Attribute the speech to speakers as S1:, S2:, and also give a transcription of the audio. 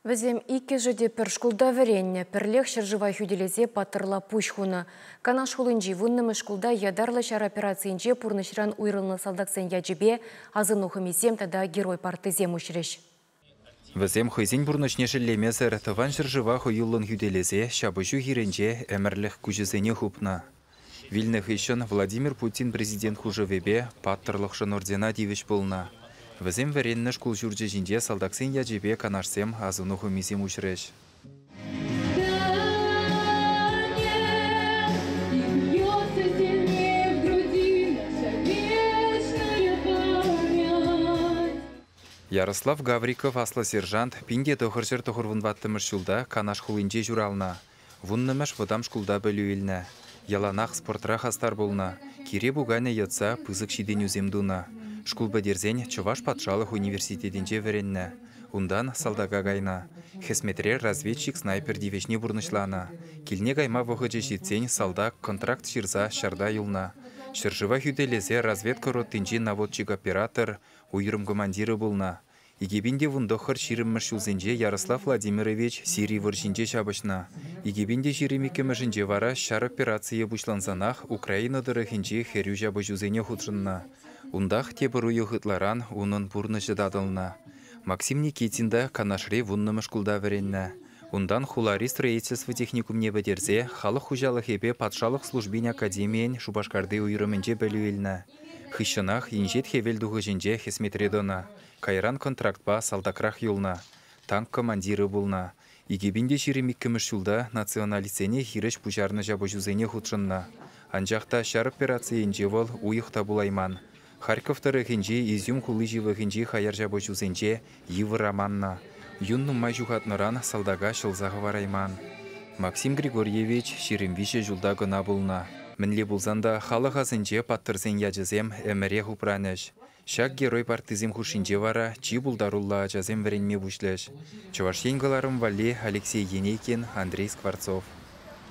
S1: Вӗсем иккӗшӗ те пӗр шкулта вӗреннӗ, пӗрлех ҫӗршыва хӳтӗлесе паттӑрла пуҫ хунӑ. Канаш хулинчи вуннӑмӗш шкулта ятарлӑ ҫар операцийӗнче пурнӑҫран уйрӑлнӑ салтаксен ячӗпе асӑну хӑмисем тата герой парттисем уҫрӗҫ. Вӗсем
S2: хӑйсен пурнӑҫне шеллемесӗр Тӑван ҫӗршыва хӑюллӑн хӳтӗлесе ҫапӑҫу хирӗнче ӗмӗрлӗх куҫӗсене хупнӑ. Вилнӗ хыҫҫӑн Владимир Путин президент хушӑвӗпе паттӑрлӑхшӑн ордена тивӗҫ пулнӑ. Вӗсем вӗреннӗ шкул ҫурчӗ ҫинче салтаксен ячӗпе канашсем асӑну хӑмисем уҫрӗҫ. Ярослав Гавриков аслӑ сержант пин те тӑхӑр ҫӗр тӑхӑрвун ваттӑмӗш ҫулта Канаш хулинче ҫуралнӑ. Вуннӑмӗш вӑтам шкулта пӗлӳ илнӗ. Яланах спортра хастар пулнӑ, кире пуканӗ йӑтса пысӑк ҫитӗнӳсем тунӑ. Шкул пӗтерсен Чӑваш патшалӑх университетӗнче вӗреннӗ. Унтан салтака кайнӑ. Хӗсметре разведчик-снайпер тивӗҫне пурнӑҫланӑ. Килне кайма вӑхӑчӗ ҫитсен салтак контракт ҫырса ҫарта юлнӑ. Ҫӗршыва хӳтӗлесе разведка роттинчи наводчик-оператор, уйрӑм командирӗ пулнӑ. Икӗ пин те вунтӑххӑр ҫирӗммӗш ҫулсенче Ярослав Владимирович Сири вӑрҫинче ҫапӑҫнӑ. Икӗ пин те ҫирӗм иккӗмӗшӗнче вара ҫар операцийӗ пуҫлансанах Украина тӑрӑхӗнчи хӗрӳ ҫапӑҫусене хутшӑннӑ. Унтах тепӗр уйӑх ытларан унӑн пурнӑҫӗ татӑлнӑ. Максим Никитин та Канашри вуннӑмӗш шкулта вӗреннӗ. Унтан хулари строительство техникумне пӗтерсе халӑх хуҫалӑхӗпе патшалӑх службин академийӗн Шупашкарти уйрӑмӗнче пӗлӳ илнӗ. Хыҫҫӑнах инҫет хӗвел тухӑҫӗнче хӗсметре тӑнӑ, кайран контрактпа салтакрах юлнӑ, танк командирӗ пулнӑ. Икӗ пин те ҫирӗм иккӗмӗш ҫулта националистсене хирӗҫ пуҫарнӑ ҫапӑҫусене хутшӑннӑ. Анчах та ҫар операцийӗнче вӑл уйӑх та пулайман. Харьков тӑрӑхӗнчи Изюм хули ҫывӑхӗнчи хаяр ҫапӑҫусенче йывӑр аманнӑ. Юн нумай ҫухатнӑран салтака ҫӑлса хӑварайман. Максим Григорьевич ҫирӗм виҫӗ ҫулта кӑна пулнӑ. Мӗнле пулсан та халӑх асӗнче паттӑрсен ячӗсем ӗмӗрех упранӗҫ. Ҫак герой партисем хушшинче вара чи пултаруллӑ ачасем вӗренме пуҫлӗҫ. Чӑваш Ен кӑларӑм валли Алексей Енейкин, Андрей Скворцов.